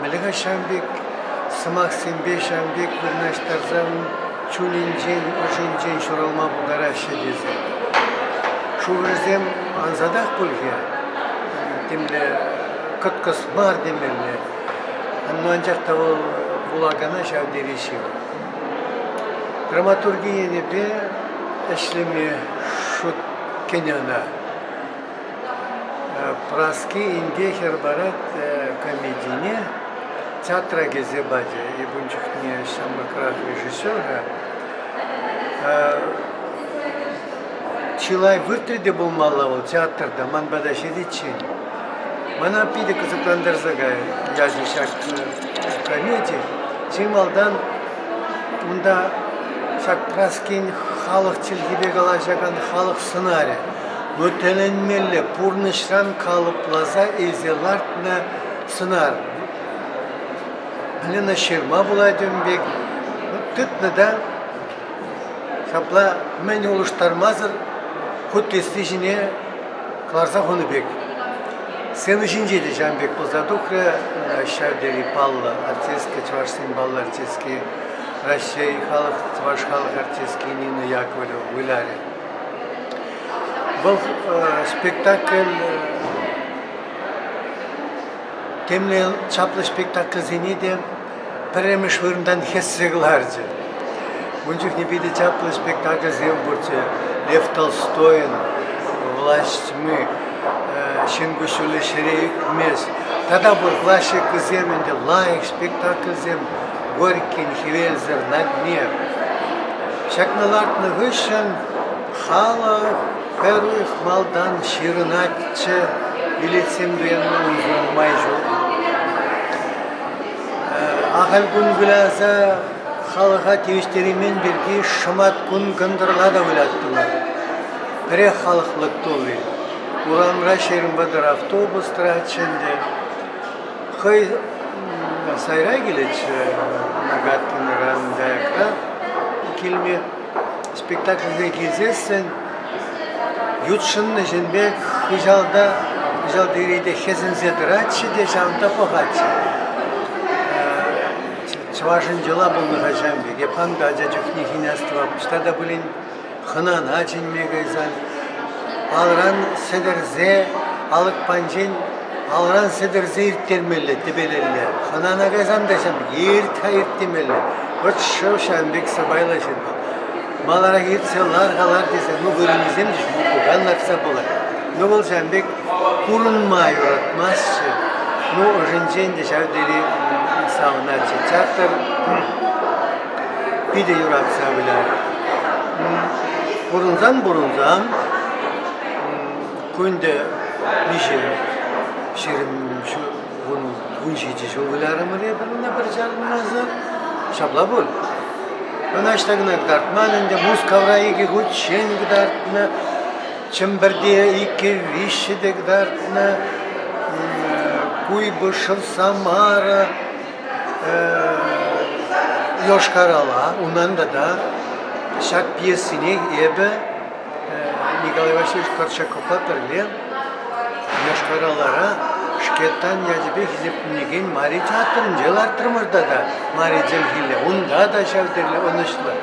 Мӗлӗке ҫав пек сӑмахсемпе ҫав пек вырнаҫтарсан чунӗнчен, ӑшӗнчен ҫуралма пултараҫҫӗ тесе. Шурӑсем ансатах пуль-ха, темле кӑткӑс мар темелле, но анчах та вӑл вулакана ҫав тери ҫывӑх. Драматурги енӗпе ӗҫлеме шут кӗнӗ ӑна. Праски инке хӗр парать комедине, театра кӗсе пачӗ. Эп ун чухне ҫамрӑкрах режиссер-ха. Чылай выртрӗ те пулмалла вӑл театрта, ман пата ҫитиччен. Мана питӗ кӑсӑклантарса кайрӗ ячӗ ҫак комеди. Чи малтан унта ҫак Праскин халӑх чӗлхипе калаҫакан халӑх сӑнарӗ. Ну, тӗлӗнмелле пурнӑҫран калӑпласа илсе лартнӑ сӑнар. Алина ҫырма пулать ун пек. Ну, тытнӑ та. Ҫапла мӗн улӑштармасӑр хуттесси ҫине кӑларса хунӑ пек. Сцена ҫинче те ҫавӑн пек пулса тухрӗ ҫав тери паллӑ артистка, чӑвашсен паллӑ артистки Раҫҫей халӑх, чӑваш халӑх артистки Нина Яковлева вылярӗ. Вӑл спектакль темле чаплӑ спектакльсене те пӗрремӗш вырӑнтан хӗссе кӑларчӗ. Ун чухне питӗ чаплӑ спектакльсем пурччӗ. Лев Толстойӑн «Власть тьмы», «Ҫын куҫҫулӗ ҫӗре ӳкмест» тата пур классикӑсем ӗнтӗ, лайӑх спектакльсем. Горькин хӗвелсӗр надмер. Ҫакна лартнӑ хыҫҫӑн халӑх пӗрих малтан ҫырӑнатчӗ. Билетсем туянма уншӑн май ҫук. Ахаль кун выляса халӑха тивӗҫтереймен пирки шӑмат кун кӑнтӑрла та выляттӑмӑр. Пӗрех халӑх лӑк тулли. Урамра ҫирӗм вӑтӑр автобус тӑратчӗ ӗнтӗ. хӑй сайра килетчӗ накатланакан каякра килме. Спектакльсене килсессӗн ютшӑннӑ ҫын пек хыҫалта хыҫалти рете хӗсӗнсе тӑратчӗ те ҫавӑнта пӑхатчӗ. Чӑвашӑн йӑла пулнӑ-ха ҫавӑн пек. Эп хам та ача чухнехи астӑвап, ӑҫта та пулин хӑнана чӗнме кайсан алран сӗтӗрсе алӑк панчин алран сӗтӗрсе ирттермелле тӗпелелле хӑнана кайсан та ҫав ирт-ха ирт темелле вӑт шыв ҫавӑн пек сӑпайлӑ ҫынна маларах иртсе лар-ха лар тесе ну вырӑнӗсем те ҫук пукан лартса пулать ну вӑл ҫавӑн пек курӑнма юратмасть-ши ну ӑшӗнчен те ҫав тери савӑнатчӗ театр питӗ юратса вылять. Пурӑнсан-пурӑнсан кунтӗ виҫӗ ҫирӗм вун ҫичӗ ҫул вылярӑмӑр эпӗр ӑна пӗр чарӑнмасӑр. Ҫапла пуль. Ӑнаҫта кӑна кӑтартман ӗнтӗ. Мускавра икӗ хутчен кӑтартнӑ. Чӗмпӗрте икӗ виҫҫӗ те кӑтартнӑ. Куйбышев, Самара, Йошкар-Ола, унӑн тата ҫак пьесине эпӗ Николай Васильевич Корчаковпа пӗрле Йошкар-Олара Шкетан ячӗпе хисепленекен Мари театрӗнче лартрӑмӑр тата Мари Делхилле. Унта та ҫав тери ӑнӑҫлӑ.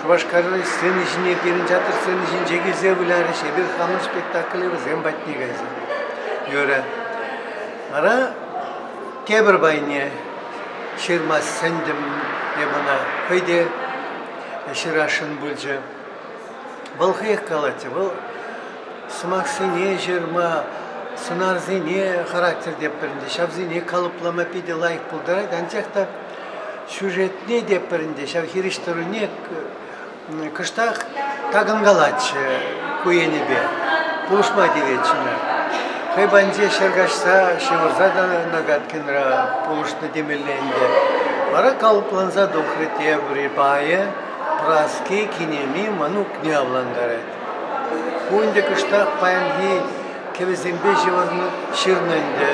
Шупашкарри сцена ҫине пирӗн театр сцени ҫинче килсе вылярӗҫ, эпир хамӑн спектакле вӗсем патне кайса. Юрӗ. Вара тепӗр пайне ҫырма сӗнтӗм эп ӑна хӑй те ҫырасшӑн пулчӗ. Вӑл хӑех калатчӗ, вӑл сӑмахсене ҫырма, сӑнарсене характер тепӗр ӗнтӗ, ҫавсене калӑплама питӗ лайӑх пултарать, анчах та сюжетне те пӗр ӗнтӗ ҫав хирӗҫ тӑруне кӑштах такӑнкалатчӗ ку енӗпе, пулӑшма тиветчӗ. Хӑй патӗнче ҫӗр каҫса, ҫывӑрса та Нагаткинра пулӑшнӑ темелле ӗнтӗ. Вара калӑпланса тухрӗ те ври пайӗ, Праски кинеми мӑнукне авлантарать. Ку ӗнтӗ кӑштах паянхи кӗвӗсемпе ҫырнӑ ӗнтӗ.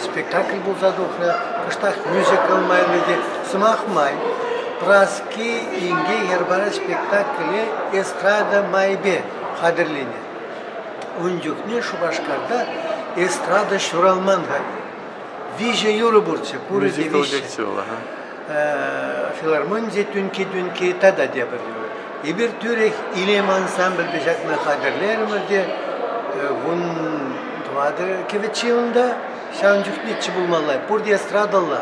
Спектакль пулса тухрӗ, кӑштах мюзикл майлӑ те сӑмах май. Праски Чи инке йӗр парать спектакле «Эстрада майӗпе» хатӗрленӗ. Ун чухне Шупашкарта эстрада ҫуралман-ха. Виҫӗ юрӑ пурччӗ, пурӗ те виҫҫӗ. Филармоние тӳнки-тӳнки тата тепӗр юрӑ. Эпир тӳрех Илем ансамбльпе ҫакна хатӗрлерӗмӗр те вун тӑватӑ кӗвӗт ҫылӑнта Ҫавӑн чухнеччӗ пулмалла, пурте эстрадӑлла.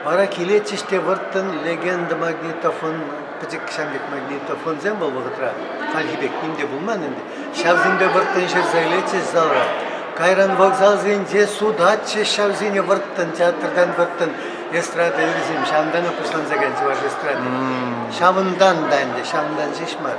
Вара килетчӗҫ те вӑрттӑн легенда магнитофон, пӗчӗк ҫам пек магнитофонсем вӑл вӑхӑтра. Хальхи пек ним те пулман ӗнтӗ. Ҫавсемпе вӑрттӑн ҫырса илетчӗҫ зала. Кайран вокзалсенче сутатчӗҫ ҫавсене вӑрттӑн, театртан вӑрттӑн эстрада юррисем. Ҫавӑнтанах пуҫланса кайнӑ чӑваш эстрады. Ҫавӑнтан та ӗнтӗ, ҫавӑнтан ҫеҫ мар.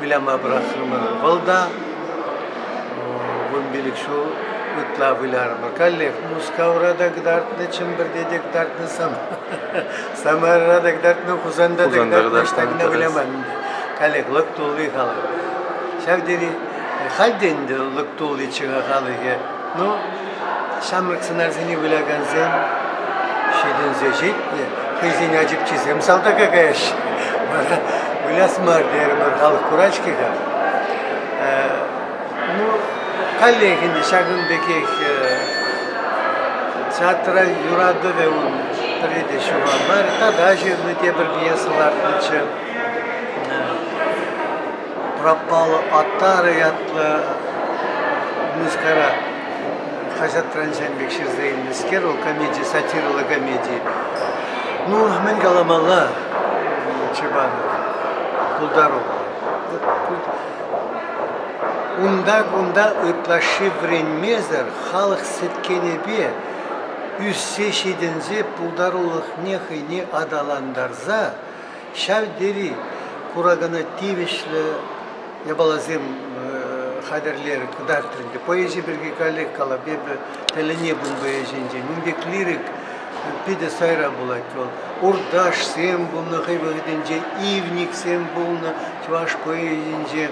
выляма пӑрахрӑмӑр. Вӑл та вунпилӗк ҫул ытла вылярӑмӑр. Каллех Мускавра та кӑтартнӑ, Чӗмпӗрте те кӑтартнӑ, Самарӑра та кӑтартнӑ, Хусанта та кӑтартнӑ, ӑҫта выламан ӗнтӗ. Каллех лӑк тулли халӑх. Ҫав тери, халь те ӗнтӗ лӑк тулличчӗ халӑхӗ. Ну, Ҫамрӑк сӑнарсене вылякансем ҫитӗнсе ҫитнӗ, хӑйсен ачипчисем салтака каяҫҫӗ. Вара выляс мар терӗмӗр халӑх курать-ҫке-ха. Ну, каллех ӗнтӗ ҫакӑн пекех театра юратӑвӗ ун пӗрре те ҫухалмарӗ. Тата ҫырнӑ тепӗр пьеса лартнӑччӗ. Пропала Атара ятлӑ музыкара хаҫат транчан пек ҫырса илнӗскер вӑл комеди, сатирӑлла комеди. Ну, мӗн каламалла Чебанов? Пултару. Унта-кунта ытлашши вӗренмесӗр халӑх сӗткенӗпе ӳссе ҫитӗнсе пултарулӑхне хӑйне аталантарса Ҫав тери куракана тивӗҫлӗ япаласем хатӗрлерӗ, кӑтартрӗ. Поэзи пирки каллех калап. Эпӗ тӗлӗне пум поэзинчен. Ун пек лирик питӗ сайра пулать вӑл. Урташсем пулнӑ хӑй вӑхӑтӗнче, ивниксем пулнӑ чӑваш поэзинче.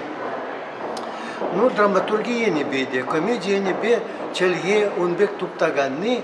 Ну, драматурги енӗпе те, комеди енӗпе чӗлхе ун пек туптаканни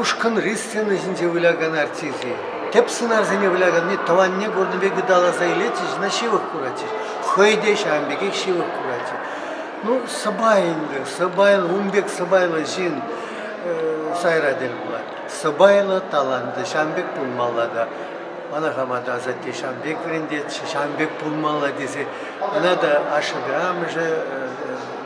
Ушкӑнри сцена ҫинче вылякан артисти тӗп сӑнарсене выляканни тӑванне курнӑ пек ыталаса илетчӗҫ, ӑна ҫывӑх куратчӗҫ. хӑй те ҫавӑн пекех ҫывӑх куратчӗ. Ну, сӑпай ӗнтӗ, сӑпайӑн, ун пек сӑпайлӑ ҫын сайра тӗл пулать. Сӑпайлӑ, талантлӑ ҫавӑн пек пулмалла та. Мана хама та асатте ҫавӑн пек вӗрентетчӗ, ҫавӑн пек пулмалла тесе. Ӑна та ашшӗпе амӑшӗ